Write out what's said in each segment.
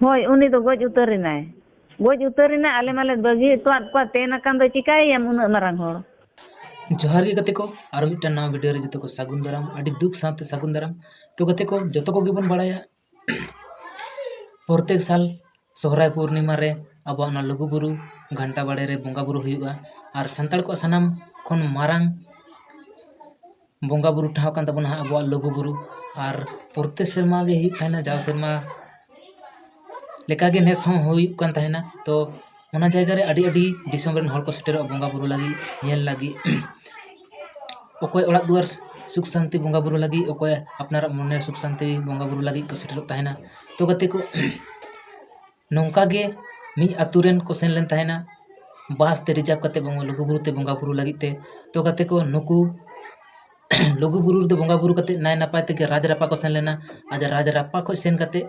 ᱦᱳᱭ ᱩᱱᱤ ᱫᱚ ᱜᱚᱡ ᱩᱛᱟᱹᱨ ᱮᱱᱟᱭ ᱜᱚᱡ ᱩᱛᱟᱹᱨ ᱮᱱᱟᱭ ᱟᱞᱮ ᱢᱟᱞᱮ ᱵᱟᱹᱜᱤ ᱦᱚᱴᱚᱣᱟᱫ ᱠᱚᱣᱟ ᱛᱮᱱ ᱟᱠᱟᱱ ᱫᱚ ᱪᱤᱠᱟᱹᱭᱮᱭᱟᱢ ᱩᱱᱟᱹᱜ ᱢᱟᱨᱟᱝ ᱦᱚᱲ ᱡᱚᱦᱟᱨ ᱜᱮ ᱜᱟᱛᱮ ᱠᱚ ᱟᱨ ᱢᱤᱫᱴᱟᱝ ᱱᱟᱣᱟ ᱵᱷᱤᱰᱤᱭᱳ ᱨᱮ ᱡᱚᱛᱚ ᱠᱚ ᱥᱟᱹᱜᱩᱱ ᱫᱟᱨᱟᱢ ᱟᱹᱰᱤ ᱫᱩᱠ ᱥᱟᱶᱛᱮ ᱥᱟᱹᱜᱩᱱ ᱫᱟᱨᱟᱢ ᱛᱚ ᱜᱟᱛᱮ ᱠᱚ ᱡᱚᱛᱚ ᱠᱚᱜᱮ ᱵᱚᱱ ᱵᱟᱲᱟᱭᱟ ᱯᱨᱚᱛᱮᱠ ᱥᱟᱞ ᱥᱚᱦᱨᱟᱭ ᱯᱩᱨᱱᱤᱢᱟ ᱨᱮ ᱟᱵᱚᱣᱟᱜ ᱚᱱᱟ ᱞᱩᱜᱩᱼᱵᱩᱨᱩ ᱜᱷᱟᱱᱴᱟ ᱵᱟᱲᱮ ᱨᱮ ᱵᱚᱸᱜᱟᱼᱵᱩᱨᱩ ᱦᱩᱭᱩᱜᱼᱟ ᱟᱨ ᱥᱟᱱᱛᱟᱲ ᱠᱚᱣᱟᱜ ᱥᱟᱱᱟᱢ ᱠᱷᱚᱱ ᱢᱟᱨᱟᱝ ᱵᱚᱸᱜᱟᱼᱵᱩᱨᱩ ᱴᱷᱟᱶ ᱠᱟᱱ ᱛᱟᱵᱚᱱᱟ ᱦᱟᱸᱜ ᱟᱵᱚᱣᱟᱜ ᱞᱩᱜᱩᱼᱵᱩᱨᱩ ᱟᱨ ᱯᱨᱚᱛᱮᱠ ᱥᱮᱨᱢᱟ ᱜᱮ ᱦᱩᱭᱩᱜ ᱛᱟᱦᱮᱱᱟ ᱡᱟᱣ ᱥᱮᱨᱢᱟ ᱞᱮᱠᱟᱜᱮ ᱱᱮᱥ ᱦᱚᱸ ᱦᱩᱭᱩᱜ ᱠᱟᱱ ᱛᱟᱦᱮᱱᱟ ᱛᱚ ᱚᱱᱟ ᱡᱟᱭᱜᱟ ᱨᱮ ᱟᱹᱰᱤ ᱟᱹᱰᱤ ᱫᱤᱥᱚᱢ ᱨᱮᱱ ᱦᱚᱲ ᱠᱚ ᱥᱮᱴᱮᱨᱚᱜᱼᱟ ᱵᱚᱸᱜᱟᱼᱵᱩᱨᱩ ᱞᱟᱹᱜᱤᱫ ᱧᱮᱞ ᱞᱟᱹᱜᱤᱫ ᱚᱠᱚᱭ ᱚᱲᱟᱜ ᱫᱩᱣᱟᱹᱨ ᱥᱩᱠ ᱥᱟᱱᱛᱤ ᱵᱚᱸᱜᱟᱼᱵᱩᱨᱩ ᱞᱟᱹᱜᱤᱫ ᱚᱠᱚᱭ ᱟᱯᱱᱟᱨᱟᱜ ᱢᱚᱱᱮ ᱥᱩᱠ ᱥᱟᱱᱛᱤ ᱵᱚᱸᱜᱟᱼᱵᱩᱨᱩ ᱞᱟᱹᱜᱤᱫ ᱠᱚ ᱥᱮᱴᱮᱨᱚᱜ ᱛᱟᱦᱮᱱᱟ ᱛᱚ ᱜᱟᱛᱮ ᱠᱚ ᱱᱚᱝᱠᱟ ᱜᱮ ᱢᱤᱫ ᱟᱛᱳ ᱨᱮᱱ ᱠᱚ ᱥᱮᱱ ᱞᱮᱱ ᱛᱟᱦᱮᱱᱟ ᱵᱟᱥ ᱛᱮ ᱨᱤᱡᱟᱨᱵᱽ ᱠᱟᱛᱮᱫ ᱵᱟᱝᱢᱟ ᱞᱩᱜᱩ ᱵᱩᱨᱩ ᱛᱮ ᱵᱚᱸᱜᱟ ᱵᱩᱨᱩ ᱞᱟᱹᱜᱤᱫ ᱛᱮ ᱛᱚ ᱜᱟᱛᱮ ᱠᱚ ᱱᱩᱠᱩ ᱞᱩᱜᱩ ᱵᱩᱨᱩ ᱨᱮᱫᱚ ᱵᱚᱸᱜᱟ ᱵᱩᱨᱩ ᱠᱟᱛᱮᱫ ᱱᱟᱭ ᱱᱟᱯᱟᱭ ᱛᱮᱜᱮ ᱨᱟᱡᱽ ᱨᱟᱯᱯᱟ ᱠᱚ ᱥᱮᱱ ᱞᱮᱱᱟ ᱟᱫᱚ ᱨᱟᱡᱽ ᱨᱟᱯᱯᱟ ᱠᱷᱚᱱ ᱥᱮᱱ ᱠᱟᱛᱮᱫ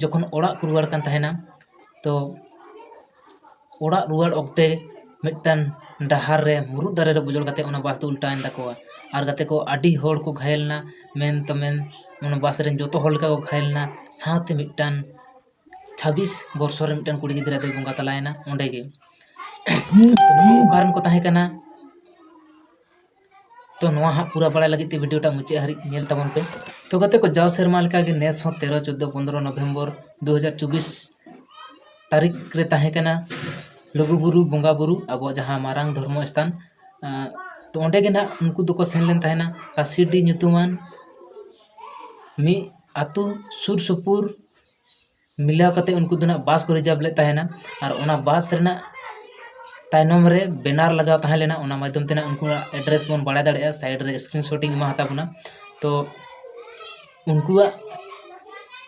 ᱡᱚᱠᱷᱚᱱ ᱚᱲᱟᱜ ᱠᱚ ᱨᱩᱣᱟᱹᱲ ᱠᱟᱱ ᱛᱟᱦᱮᱱᱟ ᱛᱚ ᱚᱲᱟᱜ ᱨᱩᱣᱟᱹᱲ ᱚᱠᱛᱮ ᱢᱤᱫᱴᱟᱝ ᱰᱟᱦᱟᱨ ᱨᱮ ᱢᱩᱨᱩᱫ ᱫᱟᱨᱮ ᱨᱮ ᱵᱩᱡᱩᱲ ᱠᱟᱛᱮᱫ ᱚᱱᱟ ᱵᱟᱥ ᱫᱚ ᱩᱞᱴᱟᱹᱣᱮᱱ ᱛᱟᱠᱚᱣᱟ ᱟᱨ ᱜᱟᱛᱮ ᱠᱚ ᱟᱹᱰᱤ ᱦᱚᱲ ᱠᱚ ᱜᱷᱟᱭᱮᱞ ᱮᱱᱟ ᱢᱮᱱ ᱛᱮ ᱢᱮᱱ ᱚᱱᱟ ᱵᱟᱥ ᱨᱮᱱ ᱡᱚᱛᱚ ᱦᱚᱲ ᱞᱮᱠᱟ ᱠᱚ ᱜᱷᱟᱭᱮᱞ ᱮᱱᱟ ᱥᱟᱶᱛᱮ ᱢᱤᱫᱴᱟᱝ ᱪᱷᱟᱵᱵᱤᱥ ᱵᱚᱨᱥᱚ ᱨᱮ ᱢᱤᱫᱴᱟᱝ ᱠᱩᱲᱤ ᱜᱤᱫᱽᱨᱟᱹ ᱫᱚᱭ ᱵᱚᱸᱜᱟ ᱛᱟᱞᱟᱭᱮᱱᱟ ᱚᱸᱰᱮ ᱜᱮ ᱚᱠᱟᱨᱮᱱ ᱠᱚ ᱛᱟᱦᱮᱸ ᱠᱟᱱᱟ ᱛᱚ ᱱᱚᱣᱟ ᱦᱟᱸᱜ ᱯᱩᱨᱟᱹ ᱵᱟᱲᱟᱭ ᱞᱟᱹᱜᱤᱫ ᱛᱮ ᱵᱷᱤᱰᱤᱭᱳ ᱴᱟᱜ ᱢᱩᱪᱟᱹᱫ ᱦᱟᱹᱨᱤᱡ ᱧᱮᱞ ᱛᱟᱵᱚᱱ ᱯᱮ ᱛᱚ ᱜᱟᱛᱮ ᱠᱚ ᱡᱟᱣ ᱥᱮᱨᱢᱟ ᱞᱮᱠᱟ ᱜᱮ ᱱᱮᱥ ᱦᱚᱸ ᱛᱮᱨᱚ ᱪᱳᱫᱽᱫᱳ ᱯᱚᱸᱫᱽᱨᱚ ᱱᱚᱵᱷᱮᱢᱵᱚᱨ ᱫᱩ ᱦᱟᱡᱟᱨ ᱪᱚᱵᱽᱵᱤᱥ ᱛᱟᱹᱨᱤᱠᱷ ᱨᱮ ᱛᱟᱦᱮᱸ ᱠᱟᱱᱟ ᱞᱩᱜᱩᱼᱵᱩᱨᱩ ᱵᱚᱸᱜᱟᱼᱵᱩᱨᱩ ᱟᱵᱚᱣᱟᱜ ᱡᱟᱦᱟᱸ ᱢᱟᱨᱟᱝ ᱫᱷᱚᱨᱢᱚ ᱥᱛᱷᱟᱱ ᱛᱚ ᱚᱸᱰᱮ ᱜᱮ ᱱᱟᱦᱟᱜ ᱩᱱᱠᱩ ᱫᱚᱠᱚ ᱥᱮᱱ ᱞᱮᱱ ᱛᱟᱦᱮᱱᱟ ᱠᱟᱥᱤᱰᱤ ᱧᱩᱛᱩᱢᱟᱱ ᱢᱤᱫ ᱟᱹᱛᱩ ᱥᱩᱨᱼᱥᱩᱯᱩᱨ ᱢᱤᱞᱟᱹᱣ ᱠᱟᱛᱮᱫ ᱩᱱᱠᱩ ᱫᱚ ᱱᱟᱦᱟᱜ ᱵᱟᱥ ᱠᱚ ᱨᱤᱡᱟᱨᱵᱽ ᱞᱮᱫ ᱛᱟᱦᱮᱱᱟ ᱟᱨ ᱚᱱᱟ ᱵᱟᱥ ᱨᱮᱱᱟᱜ ᱛᱟᱭᱱᱚᱢ ᱨᱮ ᱵᱮᱱᱟᱨ ᱞᱟᱜᱟᱣ ᱛᱟᱦᱮᱸ ᱞᱮᱱᱟ ᱚᱱᱟ ᱢᱟᱫᱽᱫᱷᱚᱢ ᱛᱮ ᱱᱟᱦᱟᱜ ᱩᱱᱠᱩᱣᱟᱜ ᱮᱰᱨᱮᱥ ᱵᱚᱱ ᱵᱟᱲᱟᱭ ᱫᱟᱲᱮᱭᱟᱜᱼᱟ ᱥᱟᱭᱤᱰ ᱨᱮ ᱥᱠᱨᱤᱱ ᱥᱚᱴ ᱤᱧ ᱮᱢᱟ ᱦᱟᱛᱟᱲ ᱠᱟᱱᱟ ᱛᱚ ᱩᱱᱠᱩᱣᱟᱜ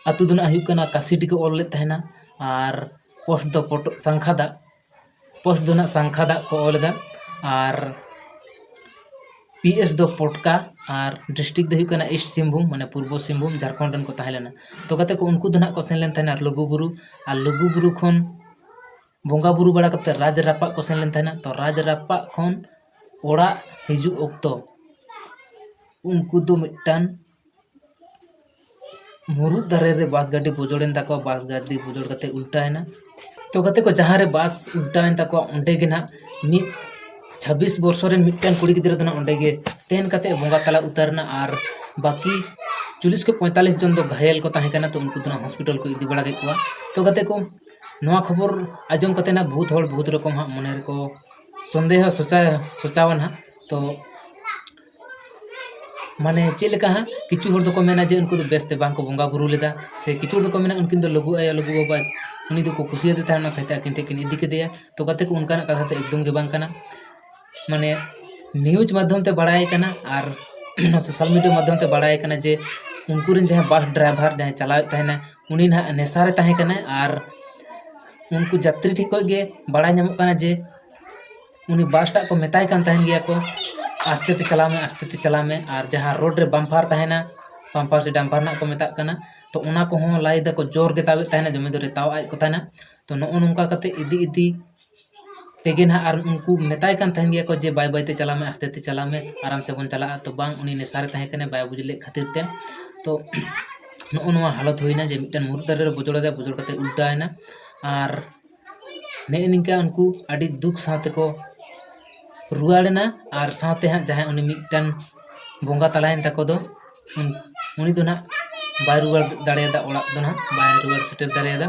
ᱟᱹᱛᱩ ᱫᱚ ᱱᱟᱦᱟᱜ ᱦᱩᱭᱩᱜ ᱠᱟᱱᱟ ᱠᱟᱥᱤᱰᱤ ᱠᱚ ᱚᱞ ᱞᱮᱫ ᱛᱟᱦᱮᱱᱟ ᱟᱨ ᱯᱳᱥᱴ ᱫᱚ ᱥᱟᱝᱠᱷᱟᱫᱟ ᱯᱳᱥᱴ ᱫᱚ ᱱᱟᱦᱟᱜ ᱥᱟᱝᱠᱷᱟ ᱫᱟᱜ ᱠᱚ ᱚᱞ ᱮᱫᱟ ᱟᱨ ᱯᱤ ᱮᱥ ᱫᱚ ᱯᱚᱴᱠᱟ ᱟᱨ ᱰᱤᱥᱴᱨᱤᱠ ᱫᱚ ᱦᱩᱭᱩᱜ ᱠᱟᱱᱟ ᱤᱥᱴ ᱥᱤᱝᱵᱷᱩᱢ ᱢᱟᱱᱮ ᱯᱩᱨᱵᱚ ᱥᱤᱝᱵᱷᱩᱢ ᱡᱷᱟᱲᱠᱷᱚᱸᱰ ᱨᱮᱱ ᱠᱚ ᱛᱟᱦᱮᱸ ᱞᱮᱱᱟ ᱛᱚ ᱜᱟᱛᱮ ᱠᱚ ᱩᱱᱠᱩ ᱫᱚ ᱱᱟᱦᱟᱜ ᱠᱚ ᱥᱮᱱ ᱞᱮᱱ ᱛᱟᱦᱮᱱᱟ ᱞᱩᱜᱩᱼᱵᱩᱨᱩ ᱟᱨ ᱞᱩᱜᱩᱼᱵᱩᱨᱩ ᱠᱷᱚᱱ ᱵᱚᱸᱜᱟᱼᱵᱩᱨᱩ ᱵᱟᱲᱟ ᱠᱟᱛᱮᱫ ᱨᱟᱡᱽ ᱨᱟᱯᱟᱜ ᱠᱚ ᱥᱮᱱ ᱞᱮᱱ ᱛᱟᱦᱮᱱᱟ ᱛᱚ ᱨᱟᱡᱽ ᱨᱟᱯᱟᱜ ᱠᱷᱚᱱ ᱚᱲᱟᱜ ᱦᱤᱡᱩᱜ ᱚᱠᱛᱚ ᱩᱱᱠᱩ ᱫᱚ ᱢᱤᱫᱴᱟᱱ ᱢᱩᱨᱩᱫ ᱫᱟᱨᱮ ᱨᱮ ᱵᱟᱥ ᱜᱟᱹᱰᱤ ᱵᱩᱡᱩᱲᱮᱱ ᱛᱟᱠᱚᱣᱟ ᱵᱟᱥ ᱜᱟᱹᱰᱤ ᱵᱩᱡᱩᱲ ᱠᱟᱛᱮᱫ ᱩᱞᱴᱟᱹᱣᱮᱱᱟ ᱛᱚ ᱜᱟᱛᱮ ᱠᱚ ᱡᱟᱦᱟᱸ ᱨᱮ ᱵᱟᱥ ᱩᱞᱴᱟᱹᱣᱮᱱ ᱛᱟᱠᱚᱣᱟ ᱚᱸᱰᱮ ᱜᱮ ᱱᱟᱦᱟᱜ ᱢᱤᱫ ᱪᱷᱟᱵᱽᱵᱤᱥ ᱵᱚᱨᱥᱚ ᱨᱮᱱ ᱢᱤᱫᱴᱟᱝ ᱠᱩᱲᱤ ᱜᱤᱫᱽᱨᱟᱹ ᱫᱚ ᱱᱟᱦᱟᱜ ᱚᱸᱰᱮ ᱜᱮ ᱛᱮᱱ ᱠᱟᱛᱮᱫ ᱵᱚᱸᱜᱟ ᱛᱟᱞᱟ ᱩᱛᱟᱹᱨᱮᱱᱟ ᱟᱨ ᱵᱟᱹᱠᱤ ᱪᱚᱞᱞᱤᱥ ᱠᱷᱚᱱ ᱯᱚᱸᱭᱛᱟᱞᱞᱤᱥ ᱡᱚᱱ ᱫᱚ ᱜᱷᱟᱭᱮᱞ ᱠᱚ ᱛᱟᱦᱮᱸ ᱠᱟᱱᱟ ᱛᱚ ᱩᱱᱠᱩ ᱫᱚ ᱱᱟᱦᱟᱜ ᱦᱚᱥᱯᱤᱴᱟᱞ ᱠᱚ ᱤᱫᱤ ᱵᱟᱲᱟ ᱠᱮᱫ ᱠᱚᱣᱟ ᱛᱚ ᱜᱟᱛᱮ ᱠᱚ ᱱᱚᱣᱟ ᱠᱷᱚᱵᱚᱨ ᱟᱸᱡᱚᱢ ᱠᱟᱛᱮᱫ ᱱᱟᱦᱟᱜ ᱵᱚᱦᱩᱛ ᱦᱚᱲ ᱵᱚᱦᱩᱛ ᱨᱚᱠᱚᱢ ᱦᱟᱸᱜ ᱢᱚᱱᱮ ᱨᱮᱠᱚ ᱥᱚᱱᱫᱮᱦᱚ ᱥᱚᱪᱟᱣ ᱥᱚᱪᱟᱣᱟ ᱱᱟᱦᱟᱜ ᱛᱚ ᱢᱟᱱᱮ ᱪᱮᱫ ᱞᱮᱠᱟ ᱦᱟᱸᱜ ᱠᱤᱪᱷᱩ ᱦᱚᱲ ᱫᱚᱠᱚ ᱢᱮᱱᱟ ᱡᱮ ᱩᱱᱠᱩ ᱫᱚ ᱵᱮᱥ ᱛᱮ ᱵᱟᱝ ᱠᱚ ᱵᱚᱸᱜᱟ ᱵᱳᱨᱳ ᱞᱮᱫᱟ ᱥᱮ ᱠᱤᱪᱷᱩ ᱦᱚᱲ ᱫᱚᱠᱚ ᱢᱮᱱᱟ ᱩᱱᱠᱤᱱ ᱫᱚ ᱞᱩᱜᱩ ᱟᱭᱳ ᱞᱩᱜᱩ ᱵᱟᱵᱟ ᱩᱱᱤ ᱫᱚᱠᱚ ᱠᱩᱥᱤᱭᱟᱫᱮ ᱛᱟᱦᱮᱱᱟ ᱚᱱᱟ ᱠᱷᱟᱹᱛᱤᱨ ᱛᱮ ᱟᱹᱠᱤᱱ ᱴᱷᱮᱱ ᱠᱤᱱ ᱤᱫᱤ ᱠᱮᱫᱮᱭᱟ ᱛᱚ ᱜᱟᱛᱮ ᱠᱚ ᱚᱱᱠᱟᱱᱟᱜ ᱠᱟᱛᱷᱟ ᱫᱚ ᱮᱠᱫᱚᱢ ᱜᱮ ᱵᱟᱝ ᱠᱟᱱᱟ ᱢᱟᱱᱮ ᱱᱤᱭᱩᱡᱽ ᱢᱟᱫᱽᱫᱷᱚᱢ ᱛᱮ ᱵᱟᱲᱟᱭ ᱠᱟᱱᱟ ᱟᱨ ᱥᱳᱥᱟᱞ ᱢᱤᱰᱤᱭᱟ ᱢᱟᱫᱽᱫᱷᱚᱢ ᱛᱮ ᱵᱟᱲᱟᱭ ᱠᱟᱱᱟ ᱡᱮ ᱩᱱᱠᱩ ᱨᱮᱱ ᱡᱟᱦᱟᱸᱭ ᱵᱟᱥ ᱰᱨᱟᱭᱵᱷᱟᱨ ᱡᱟᱦᱟᱸᱭ ᱪᱟᱞᱟᱣᱮᱫ ᱛᱟᱦᱮᱱᱟᱭ ᱩᱱᱤ ᱱᱟᱦᱟᱜ ᱱᱮᱥᱟ ᱨᱮ ᱛᱟᱦᱮᱸ ᱠᱟᱱᱟᱭ ᱟᱨ ᱩᱱᱠᱩ ᱡᱟᱛᱨᱤ ᱴᱷᱮᱱ ᱠᱷᱚᱱ ᱜᱮ ᱵᱟᱲᱟᱭ ᱧᱟᱢᱚᱜ ᱠᱟᱱᱟ ᱡᱮ ᱩᱱᱤ ᱵᱟᱥ ᱴᱟᱜ ᱠᱚ ᱢᱮᱛᱟᱭ ᱠᱟᱱ ᱛᱟᱦᱮᱱ ᱜᱮᱭᱟ ᱠᱚ ᱟᱥᱛᱮ ᱛᱮ ᱪᱟᱞᱟᱣ ᱢᱮ ᱟᱥᱛᱮ ᱛᱮ ᱪᱟᱞᱟᱣ ᱢᱮ ᱟᱨ ᱡᱟᱦᱟᱸ ᱨᱳᱰ ᱨᱮ ᱵᱟᱢᱯᱷᱟᱨ ᱛᱟᱦᱮᱱᱟ ᱵᱟᱢᱯᱷᱟᱨ ᱥᱮ ᱰᱟᱢᱯᱷᱟᱨ ᱱᱟᱦᱟᱜ ᱠᱚ ᱢᱮᱛᱟᱜ ᱠᱟᱱᱟ ᱛᱚ ᱚᱱᱟ ᱠᱚᱦᱚᱸ ᱞᱟᱭ ᱫᱟᱠᱚ ᱡᱳᱨ ᱜᱮ ᱛᱟᱵᱮᱫ ᱛᱟᱦᱮᱱᱟ ᱫᱚᱢᱮ ᱡᱳᱨᱮ ᱛᱟᱣ ᱟᱫ ᱠᱚ ᱛᱟᱦᱮᱱᱟ ᱛᱚ ᱱᱚᱜᱼᱚ ᱱᱚᱝᱠᱟ ᱠᱟᱛᱮ ᱤᱫᱤ ᱤᱫᱤ ᱛᱮᱜᱮ ᱱᱟᱦᱟᱜ ᱟᱨ ᱩᱱᱠᱩ ᱢᱮᱛᱟᱭ ᱠᱟᱱ ᱛᱟᱦᱮᱱ ᱜᱮᱭᱟ ᱠᱚ ᱡᱮ ᱵᱟᱭ ᱵᱟᱭ ᱛᱮ ᱪᱟᱞᱟᱜ ᱢᱮ ᱟᱥᱛᱮ ᱛᱮ ᱪᱟᱞᱟᱜ ᱢᱮ ᱟᱨᱟᱢ ᱥᱮ ᱵᱚᱱ ᱪᱟᱞᱟᱜᱼᱟ ᱛᱚ ᱵᱟᱝ ᱩᱱᱤ ᱱᱮᱥᱟ ᱨᱮ ᱛᱟᱦᱮᱸ ᱠᱟᱱᱟᱭ ᱵᱟᱭ ᱵᱩᱡᱽ ᱞᱮᱫ ᱠᱷᱟᱹᱛᱤᱨ ᱛᱮ ᱛᱚ ᱱᱚᱜᱼᱚ ᱱᱚᱣᱟ ᱦᱟᱞᱚᱛ ᱦᱩᱭᱱᱟ ᱡᱮ ᱢᱤᱫᱴᱟᱝ ᱢᱩᱨᱩᱫ ᱫᱟᱨᱮ ᱨᱮ ᱵᱚᱡᱚᱲᱟᱫᱮᱭᱟ ᱵᱚᱡᱚᱲ ᱠᱟᱛᱮ ᱩᱞᱴᱟᱹᱣ ᱮᱱᱟ ᱟᱨ ᱱᱮᱜᱼᱮ ᱱᱤᱝᱠᱟᱹ ᱩᱱᱠᱩ ᱟᱹᱰᱤ ᱫᱩᱠ ᱥᱟᱶ ᱛᱮᱠᱚ ᱨᱩᱣᱟᱹᱲᱮᱱᱟ ᱟᱨ ᱥᱟᱶᱛᱮ ᱦᱟᱸᱜ ᱡᱟᱦᱟᱸᱭ ᱩᱱᱤ ᱢᱤᱫᱴᱟᱱ ᱵᱚᱸᱜᱟ ᱛᱟᱞᱟᱭᱮᱱ ᱛᱟᱠᱚ ᱫᱚ ᱩᱱᱤ ᱫᱚ ᱦᱟᱸᱜ ᱵᱟᱭ ᱨᱩᱣᱟᱹᱲ ᱫᱟᱲᱮᱭᱟᱫᱟ ᱚᱲᱟᱜ ᱫᱚ ᱦᱟᱸᱜ ᱵᱟᱭ ᱨᱩᱣᱟᱹᱲ ᱥᱮᱴᱮᱨ ᱫᱟᱲᱮᱭᱟᱫᱟ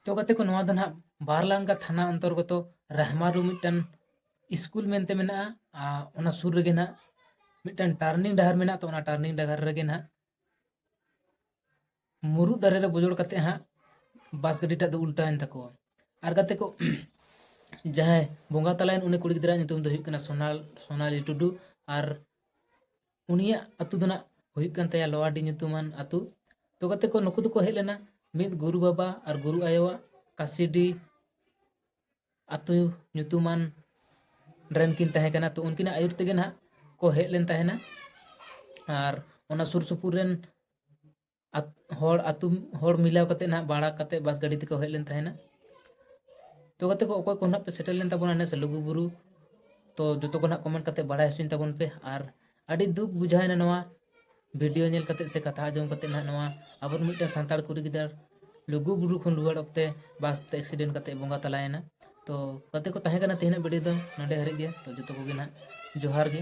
ᱛᱚ ᱜᱟᱛᱮ ᱠᱚ ᱱᱚᱣᱟ ᱫᱚ ᱦᱟᱸᱜ ᱵᱟᱨᱞᱟᱝᱜᱟ ᱛᱷᱟᱱᱟ ᱚᱱᱛᱚᱨᱜᱚᱛᱚ ᱨᱟᱦᱢᱟᱨᱩ ᱢᱤᱫᱴᱟᱱ ᱥᱠᱩᱞ ᱢᱮᱱᱛᱮ ᱢᱮᱱᱟᱜᱼᱟ ᱟᱨ ᱚᱱᱟ ᱥᱩᱨ ᱨᱮᱜᱮ ᱦᱟᱸᱜ ᱢᱤᱫᱴᱟᱱ ᱴᱟᱨᱱᱤᱝ ᱰᱟᱦᱟᱨ ᱢᱮᱱᱟᱜᱼᱟ ᱛᱚ ᱚᱱᱟ ᱴᱟᱨᱱᱤᱝ ᱰᱟᱦᱟᱨ ᱨᱮᱜᱮ ᱦᱟᱸᱜ ᱢᱩᱨᱩᱫ ᱫᱟᱨᱮ ᱨᱮ ᱵᱩᱡᱩᱲ ᱠᱟᱛᱮ ᱦᱟᱸᱜ ᱵᱟᱥ ᱜᱟᱹᱰᱤᱴᱟᱜ ᱫᱚ ᱩᱞᱴᱟᱹᱣᱮᱱ ᱛᱟᱠᱚᱣᱟ ᱟᱨ ᱜᱟᱛᱮ ᱠᱚ ᱡᱟᱦᱟᱸᱭ ᱵᱚᱸᱜᱟ ᱛᱟᱞᱟᱭᱮᱱ ᱩᱱᱤ ᱠᱩᱲᱤ ᱜᱤᱫᱽᱨᱟᱹᱣᱟᱜ ᱧᱩᱛᱩᱢ ᱫᱚ ᱦᱩᱭᱩᱜ ᱠᱟᱱᱟ ᱥᱳᱱᱟᱞ ᱥᱳᱱᱟᱞᱤ ᱴᱩᱰᱩ ᱟᱨ ᱩᱱᱤᱭᱟᱜ ᱟᱛᱳ ᱫᱚ ᱱᱟᱜ ᱦᱩᱭᱩᱜ ᱠᱟᱱ ᱛᱟᱭᱟ ᱞᱚᱣᱟᱰᱤ ᱧᱩᱛᱩᱢᱟᱱ ᱟᱛᱳ ᱛᱚ ᱜᱟᱛᱮ ᱠᱚ ᱱᱩᱠᱩ ᱫᱚᱠᱚ ᱦᱮᱡ ᱞᱮᱱᱟ ᱢᱤᱫ ᱜᱩᱨᱩ ᱵᱟᱵᱟ ᱟᱨ ᱜᱩᱨᱩ ᱟᱭᱳᱣᱟᱜ ᱠᱟᱥᱤᱰᱤ ᱟᱛᱳ ᱧᱩᱛᱩᱢᱟᱱ ᱨᱮᱱ ᱠᱤᱱ ᱛᱟᱦᱮᱸ ᱠᱟᱱᱟ ᱛᱚ ᱩᱱᱠᱤᱱᱟᱜ ᱟᱹᱭᱩᱨ ᱛᱮᱜᱮ ᱱᱟᱦᱟᱜ ᱠᱚ ᱦᱮᱡ ᱞᱮᱱ ᱛᱟᱦᱮᱱᱟ ᱟᱨ ᱚᱱᱟ ᱥᱩᱨ ᱥᱩᱯᱩᱨ ᱨᱮᱱ ᱦᱚᱲ ᱟᱛᱳ ᱦᱚᱲ ᱢᱤᱞᱟᱹᱣ ᱠᱟᱛᱮ ᱱᱟᱦᱟᱜ ᱵᱷᱟᱲᱟ ᱠᱟᱛᱮ ᱵᱟᱥ ᱜᱟᱹᱰᱤ ᱛᱮᱠᱚ ᱦᱮᱡ ᱞᱮᱱ ᱛᱟᱦᱮᱱᱟ ᱛᱚ ᱜᱟᱛᱮ ᱠᱚ ᱚᱠᱚᱭ ᱠᱚ ᱱᱟᱦᱟᱜ ᱯᱮ ᱥᱮᱴᱮᱨ ᱞᱮᱱ ᱛᱟᱵᱚᱱᱟ ᱱᱮᱥ ᱞᱩᱜᱩᱵᱩᱨᱩ ᱛᱚ ᱡᱚᱛᱚ ᱠᱚ ᱱᱟᱦᱟᱜ ᱠᱚᱢᱮᱱᱴ ᱠᱟᱛᱮ ᱵᱟᱲᱟᱭ ᱦᱚᱪᱚᱧ ᱛᱟᱵᱚᱱ ᱯᱮ ᱟᱨ ᱟᱹᱰᱤ ᱫᱩᱠ ᱵᱩᱡᱷᱟᱹᱣᱮᱱᱟ ᱱᱚᱣᱟ ᱵᱷᱤᱰᱤᱭᱳ ᱧᱮᱞ ᱠᱟᱛᱮᱫ ᱥᱮ ᱠᱟᱛᱷᱟ ᱟᱸᱡᱚᱢ ᱠᱟᱛᱮᱫ ᱱᱟᱦᱟᱜ ᱱᱚᱣᱟ ᱟᱵᱚᱨᱮᱱ ᱢᱤᱫᱴᱟᱝ ᱥᱟᱱᱛᱟᱲ ᱠᱩᱲᱤ ᱜᱤᱫᱟᱹᱨ ᱞᱩᱜᱩ ᱵᱩᱨᱩ ᱠᱷᱚᱱ ᱨᱩᱣᱟᱹᱲ ᱚᱠᱛᱮ ᱵᱟᱥ ᱛᱮ ᱮᱠᱥᱤᱰᱮᱱᱴ ᱠᱟᱛᱮᱫ ᱵᱚᱸᱜᱟ ᱛᱟᱞᱟᱭᱮᱱᱟ ᱛᱚ ᱜᱟᱛᱮ ᱠᱚ ᱛᱟᱦᱮᱸ ᱠᱟᱱᱟ ᱛᱮᱦᱮᱧᱟᱜ ᱵᱷᱤᱰᱤᱭᱳ ᱫᱚ ᱱᱚᱰᱮ ᱦᱟᱹᱨᱤᱡ ᱜᱮ ᱛᱚ ᱡᱚᱛᱚ ᱠᱚᱜᱮ ᱱᱟᱦᱟᱜ ᱡᱚᱦᱟᱨ ᱜᱮ